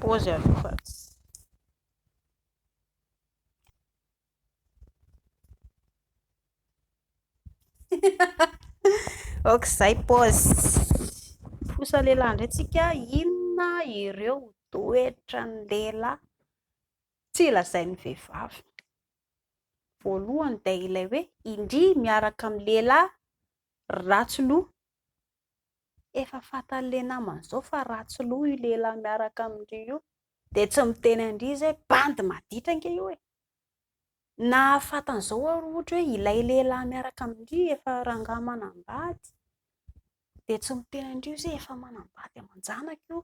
Pause aloha fa tsy. Ok zay pause. Trosa lehilahy ndray tsika inona ireo toetra ny lehilahy tsy lazain'ny vehivavy. Voalohany dia ilay hoe indria miaraka amin'ny lehilahy ratsy loha Efa fantan'le namany zao fa ratsy loha io lehilahy miaraka amin-dry io dia tsy miteny an-dry izy hoe bandy maditra ange io e! Nahafantan'izao aho raha ohatra hoe ilay lehilahy miaraka amin-dry efa rangahy manambady dia tsy miteny an-dry izy hoe efa manambady aman-janaka io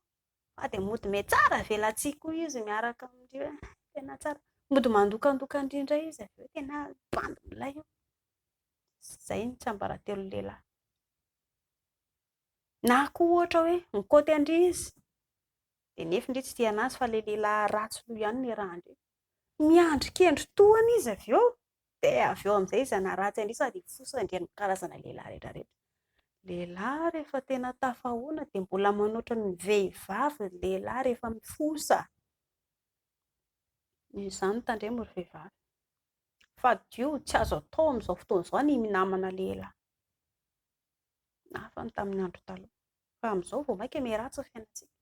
fa dia mody mitsara velatsihy koa izy miaraka amin-dry hoe tena tsara. Mody mandokandoka an-dry indray izy avy eo hoe tena bandy milay io. Izay ny tsiambaratelon'ny lehilahy. Na koa ohatra hoe mikaoty an-dry izy, dia nefin-dry tsy tia an'azy fa ilay lehilahy ratsy loha ihany no iarahan-dry. Miandry kendry tohana izy avy eo, dia avy eo amin'izay izy hanaratsy an-dry sady hifosa an-dry amin'ny karazana lehilahy rehetra rehetra. Lehilahy rehefa tena tafahoana dia mbola manoatra ny vehivavy ny lehilahy rehefa mifosa. Noho izany tandremo ry vehivavy. Fadio, tsy azo atao amin'izao fotoana izao ny minamana lehilahy. Ny hafa ny tamin'ny andro taloha. Fa amin'izao vao mainka miharatsy ny fiainantsika.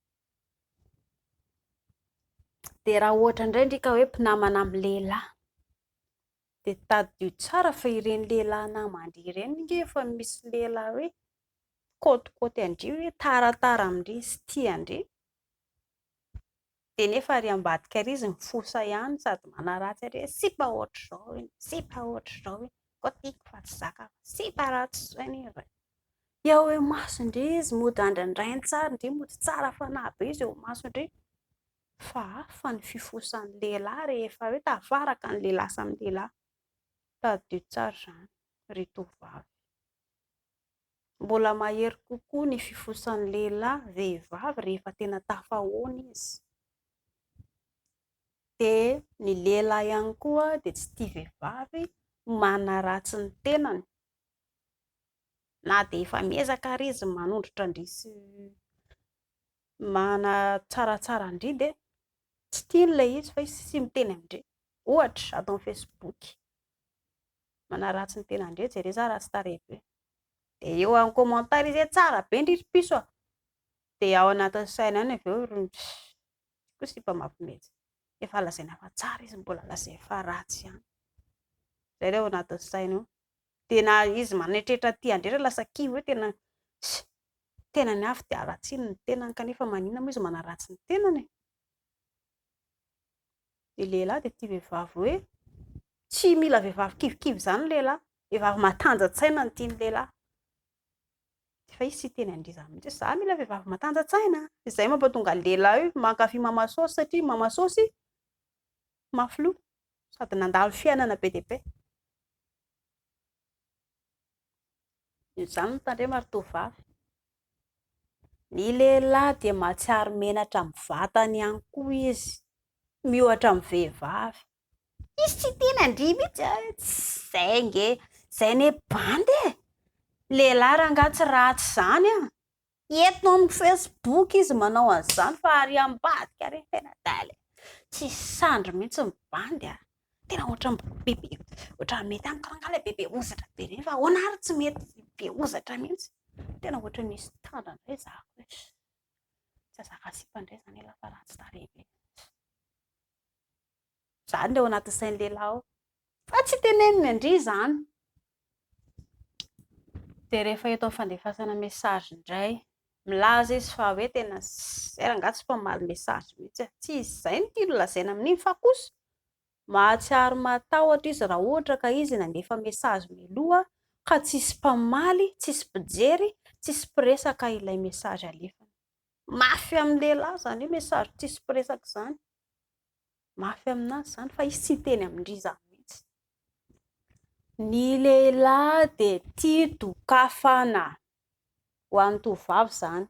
Dia raha ohatra indray ndry ka hoe mpinamana amin'ny lehilahy, dia tadidio tsara fa ireny lehilahy naman-dry ireny nge efa misy lehilahy hoe mikaotikoty an-dry hoe tara tara amin-dry sy tia an-dry. dia nefa ary ambadika ary izy mifosa ihany sady manaratsy ary hoe sipa ohatr'izao iny, sipa ohatr'izao iny, koa tiako fa tsy zakako, sipa ratsy izao anie ry reto, dia ao imason-dry izy mody andrandrainy tsara, ndry mody tsara fanahy be izy eo imason-dry, fa hafa ny fifosan'ny lehilahy rehefa hoe tafaraka ny lehilahy samy lehilahy, tadidio tsara izany ry tovovavy. Mbola mahery kokoa ny fifosan'ny lehilahy vehivavy rehefa tena tafahaona izy. Dia ny lehilahy ihany koa dia tsy tia vehivavy manaratsy ny tenany, na dia efa miezaka ary izy manondrotra-ndry sy manatsaratsara-ndry dia tsy tiany ilay izy fa izy tsy miteny amin-dry. Ohatra, ato amin'ny Facebook. manaratsy ny tena ndrey jereo za ratsy tarehy be de eo en commentaire izy hoe tsara be ndry ry piso a de ao anatin'ny saina any avy eo ry ko sipa mafy mihitsy efa lazaina fa tsara izy mbola lazaina fa ratsy ihany zay le ao anatin'ny saina ao de na izy manetretra aty andrey ra lasa kivy hoe tena tena ny afo de haratsiany ny tenany kanefa manina moa izy manaratsy ny tenany e dia lehilahy dia tia vehivavy hoe tsy mila vehivavy kivikivy izany ny lehilahy, vehivavy matanja-tsaina no tian'ny lehilahy, nefa izy tsy hiteny an'iry izany mihintsy hoe za mila vehivavy matanja-tsaina, izay mampahatonga ny lehilahy mankafy mama sôsy satria mama sôsy mafy loha sady nandalo fiainana be dia be. Izany no tandrema ry tovovavy. Ny lehilahy dia mahatsiaro menatra amin'ny vatany ihany koa izy, miohatra amin'ny vehivavy. Izy tsy tia nandria mihitsy a, izay ange, izay anie bandy e! Ny lehilahy rangaha tsy ratsy izany an! Eto amiko facebook izy manao an'izany fa ary ambadika re tena dalle e! Tsy sandry mihitsy ny bandy a! Tena ohatran'ny bebe, ohatran'ny mety amiko rangahy ilay bebe hozatra be ireny fa ahoana ary tsy mety be hozatra mihitsy? Tena ohatran'ny misy tandra indray za ko e! Tsy azaka sipa indray izany elah fa ratsy tarehy be. Zany le ao anaty sain'ny lehilahy ao. Fa tsy teneniny an-dry izany. Dia rehefa eto amin'ny fandefasana message indray, milaza izy fa hoe tena sincère, angaha tsy mpamaly message mihitsy aho. Tsy izay no tiany lazaina amin'iny fa kosa mahatsiaro matahotra izy raha ohatra ka izy nandefa message mialoha ka tsisy mpamaly, tsisy mpijery, tsisy mpiresaka ilay message alefany. Mafy amin'ny lehilahy izany hoe message tsisy mpiresaka izany. mafy aminazy izany fa izy tsy hiteny amin-dry zareo mihitsy. Ny lehilahy dia tia dokafana, ho an'ny tovovavy izany.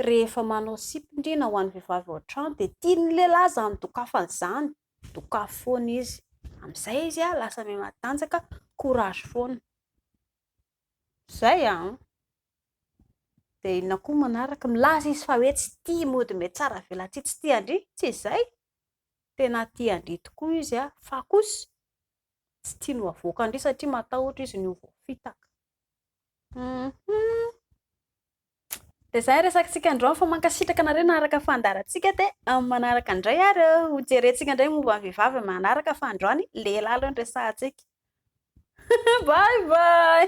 Rehefa manao sipi-dry na ho an'ny vehivavy ao an-trano dia tian'ny lehilahy izany dokafana izany, dokafy foana izy. Amin'izay izy lasa miha matanjaka, courage foana. Izay an! Dia inona koa manaraka? Milaza izy fa hoe tsy tia mody mety tsara avelatsihy tsy tian-dry. Tsy izay! Tena tian-dry tokoa izy an, fa kosa tsy tiany ho avoakan-dry satria matahotra izy ny ho voafitaka. Humm. Dia izay ny resakantsika androany fa mankasitraka anareo naharaka ny fandaharantsika dia amin'ny manaraka indray ary ho jerentsika indray momba ny vehivavy amin'ny manaraka fa androany lehilahy aloha no resahantsika. Bye bye!